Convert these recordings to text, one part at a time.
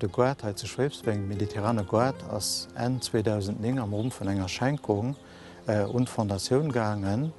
De Goart hei zu Schwéifsweng, Mediterrane Goart, ass Enn 2009 am Rumm vun enger Schenkung un d'Fondatioun gaangen.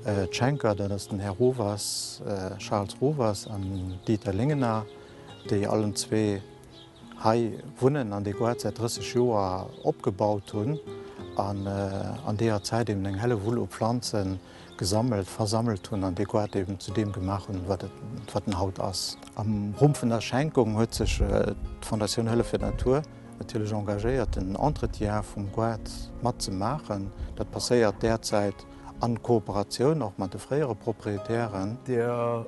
D'Schenker, dat ass den Här Rovers, Charles Rovers, an den Dieter Lingener, déi allen zwee, hei wunnen an déi grad säit 30 Joer opgebaut hunn an an deeër Zäit eben eng Hellewull u Planze gesammelt, versammelt hunn an déi grad eben zu deem gemaach hunn, wat et, wat en haut ass. Am Rumm vun der Schenkung huet sech d'Fondatioun Hëllef fir d'Natur natierlech engagéiert, den Entretien vum grad mat ze maachen. Dat passéiert däerzäit an Kooperatioun och mat de fréiere Proprietären.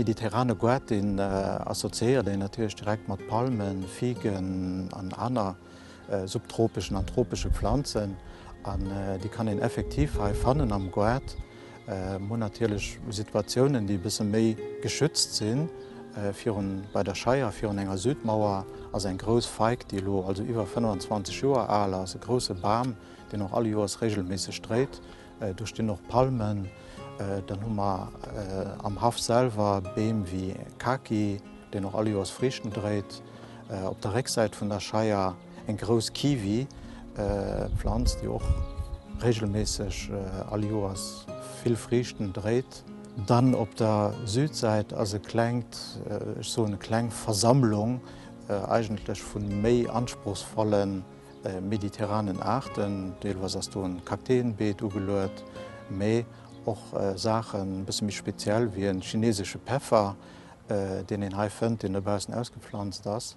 Mediterrane Goût, deen associéiert een natierlech direkt mat Palmen, Figen an aner. subtropeschen an tropesche Planzen an déi kann een effektiv hei fannen am Goart. Mir hunn natierlech Situatiounen, déi e bësse méi geschützt sinn. Virun bei der Scheier virun enger Südmauer ass eng grouss Feig, déi elo also iwwer 25 Joer al ass, e grousse Bam, deen och allejoers reegelméisseg dréit. Do stinn och Palmen. Dann hu mer am Haff selwer Beem wéi Kaki, deen och all Joers Friichten dréit. Op der Récksäit vun der Scheier eng grouss Kiwi-Planz, déi och reegelméisseg all Joers vill Friichten dréit. Dann op der Südsäit ass e klengt, ech soen e kleng, Versammlung eigentlech vu méi anspruchsvollen mediterranen Aarten, deelweis ass do e Kakteenbeet ugeluet, mee och Saachen e bësse méi speziell wéi e chinesesche Peffer, deen een hei fënnt, deen dobaussen ausgepflanzt ass.